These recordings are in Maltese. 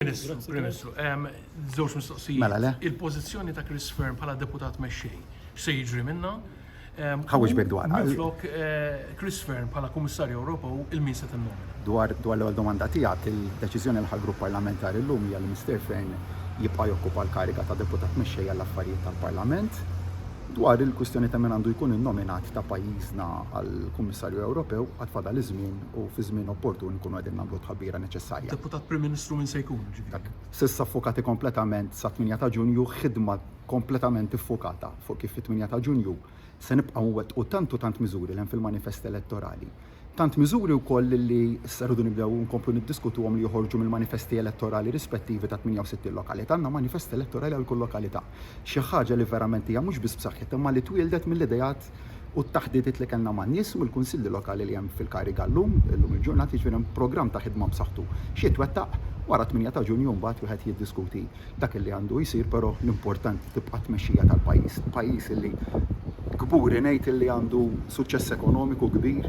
Ministru, Prim Ministru, żewġ mistoqsijiet. Mela le. Il-pożizzjoni ta' Chris Fearne bħala Deputat Mexxej, x'se jiġri minnha? Ħawweġ bek dwarha. Minflok Chris Fearne bħala Kummissarju Ewropew, il-min se tinnomina? Dwar l-ewwel domanda tiegħek, il-deċiżjoni li ħa l-Grupp Parlamentari llum hija li Mister Fearne jibqa' jokkupa l-kariga ta' Deputat Mexxej għall-Affarijiet tal-Parlament. Dwar il-kwistjoni ta' min għandu jkun innominat ta' pajjiżna għall-Kummissarju Ewropew, għad fadal iż-żmien u fi żmien opportun inkunu qegħdin nagħmlu t-tħabbira neċessarja. Deputat Prim Ministru min se jkun, jiġifieri? S'issa ffukati kompletament sat-tmienja ta' Ġunju, ħidma kompletament iffukata fuq kif fit-tmienja ta' Ġunju se nibqgħu nwettqu tant u tant miżuri li hemm fil-manifest elettorali. Tant miżuri wkoll li issa rridu nibdew inkomplu niddiskutuhom li joħorġu mill-manifesti elettorali rispettivi tat-68 lokalità. Għandna manifest elettorali għal kull lokalità. Xi ħaġa li verament hija mhux biss b'saħħitha imma li twieldet mill-ideat u t-taħditiet li kellna man-nies u mill-kunsilli lokali li hemm fil-kariga llum, illum il-ġurnata, jiġifieri hemm programm ta' ħidma b'saħħtu. Xi jitwettaq? Wara t-tmienja ta' Ġunju mbagħad wieħed jiddiskuti dak li għandu jsir però l-importanti tibqa' t-tmexxija tal-pajjiż. Pajjiż li kburi ngħid li għandu suċċess ekonomiku kbir,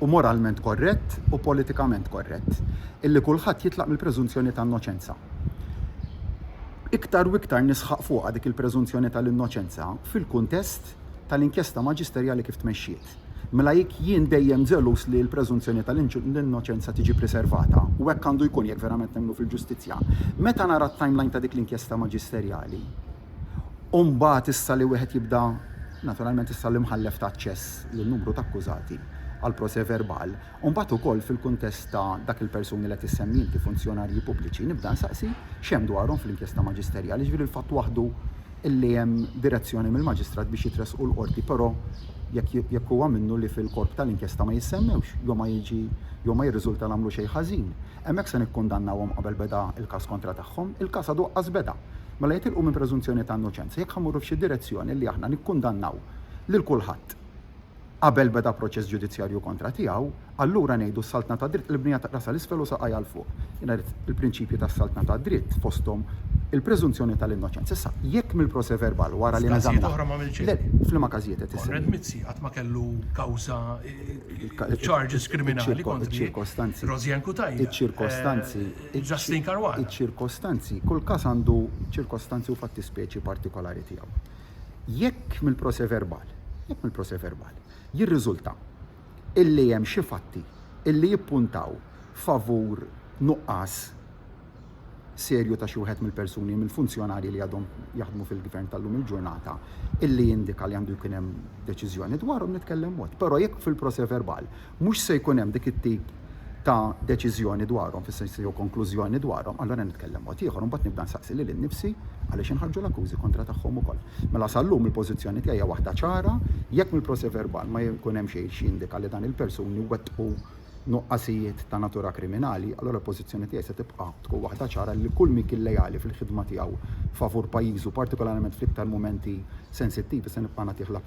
u moralment korrett u politikament korrett illi kulħadd jitlaq mill-preżunzjoni ta' innoċenza. Iktar u iktar nisħaq fuqha dik il-preżunzjoni tal-innoċenza fil-kuntest tal-inkjesta maġisterjali kif tmexxiet. Mela jekk jien dejjem ġeluż li l-preżunzjoni tal-innoċenza tiġi priservata, u hekk għandu jkun jekk verament nemmnu fil-ġustizzja, meta nara t-timeline ta' dik l-inkjesta maġisterjali, u mbagħad issa li wieħed jibda naturalment issa l-imħallef ta' aċċess lil numru ta' akkużati għal procès verbal, u mbagħad ukoll fil-kuntest ta' dak il-persuni li qed issemmi inti, funzjonarji pubbliċi, nibda nsaqsi x'hemm dwarhom fl-inkjesta maġisterjali, jiġifieri l-fatt waħdu illi hemm direzzjoni mill-maġistrat biex jitressqu l-Qorti però jekk jekk huwa minnu li fil-korp tal-inkjesta ma jissemmewx jew ma jiġi jew ma jirriżulta li għamlu xejn ħażin, hemmhekk se nikkundannawhom qabel beda l-każ kontra tagħhom, il-każ għadu qqas beda. Mela jitilqu minn preżunzjoni ta' innoċenza jekk ħa mmorru f'xi direzzjoni li aħna nikkundannaw lil kulħadd qabel beda proċess ġudizzjarju kontra tiegħu, allura ngħidu s-saltna tad-dritt qlibniha ta' rasha 'l isfel u saqajha 'l fuq. Jiena rrid il-prinċipji tas-saltna tad-dritt fosthom il-preżunzjoni tal-innoċenza. Issa, jekk mill-proce verbal wara li neżaminaw. F'każijiet oħra m'għamilx hekk. Le, f'liema każijiet qed issemmi? Konrad Mizzi qatt ma kellu kawża, charges kriminali kontri Roseanne Cutajar. Iċ-ċirkostanzi. Justin Caruana. Iċ-ċirkostanzi, kull każ għandu ċirkostanzi u fattispeċi partikolari tiegħu. Jekk mill-proseverbal, jekk mill-proseverbal, jirriżulta illi hemm xi fatti illi jippuntaw favur nuqqas serju ta' xi wieħed mill-persuni, mill-funzjonarji li għadhom jaħdmu fil-Gvern tal-lum il-ġurnata, illi jindika li għandu jkun hemm deċiżjoni dwarhom nitkellem mod. Però jekk fil-proseverbal mhux se jkun hemm dik it-tip ta' deċiżjoni dwarhom, fis-sens jew konklużjoni dwarhom, allura nitkellem mod ieħor u mbagħad nibda nsaqsi lili nnifsi għaliex inħarġu l-akkużi kontra tagħhom ukoll. Mela sal-lum il-pożizzjoni tiegħi hija waħda ċara, jekk mill-proċè verbal ma jkun hemm xejn xi jindika li dan il-persuni wettqu nuqqasijiet ta' natura kriminali, allura l-pożizzjoni tiegħi se tibqa' tkun waħda ċara li kull min kien leali fil-ħidma tiegħu favur pajjiżu, partikolarment fl-iktar mumenti sensittivi, se nibqa' nagħtih l-appoġġ.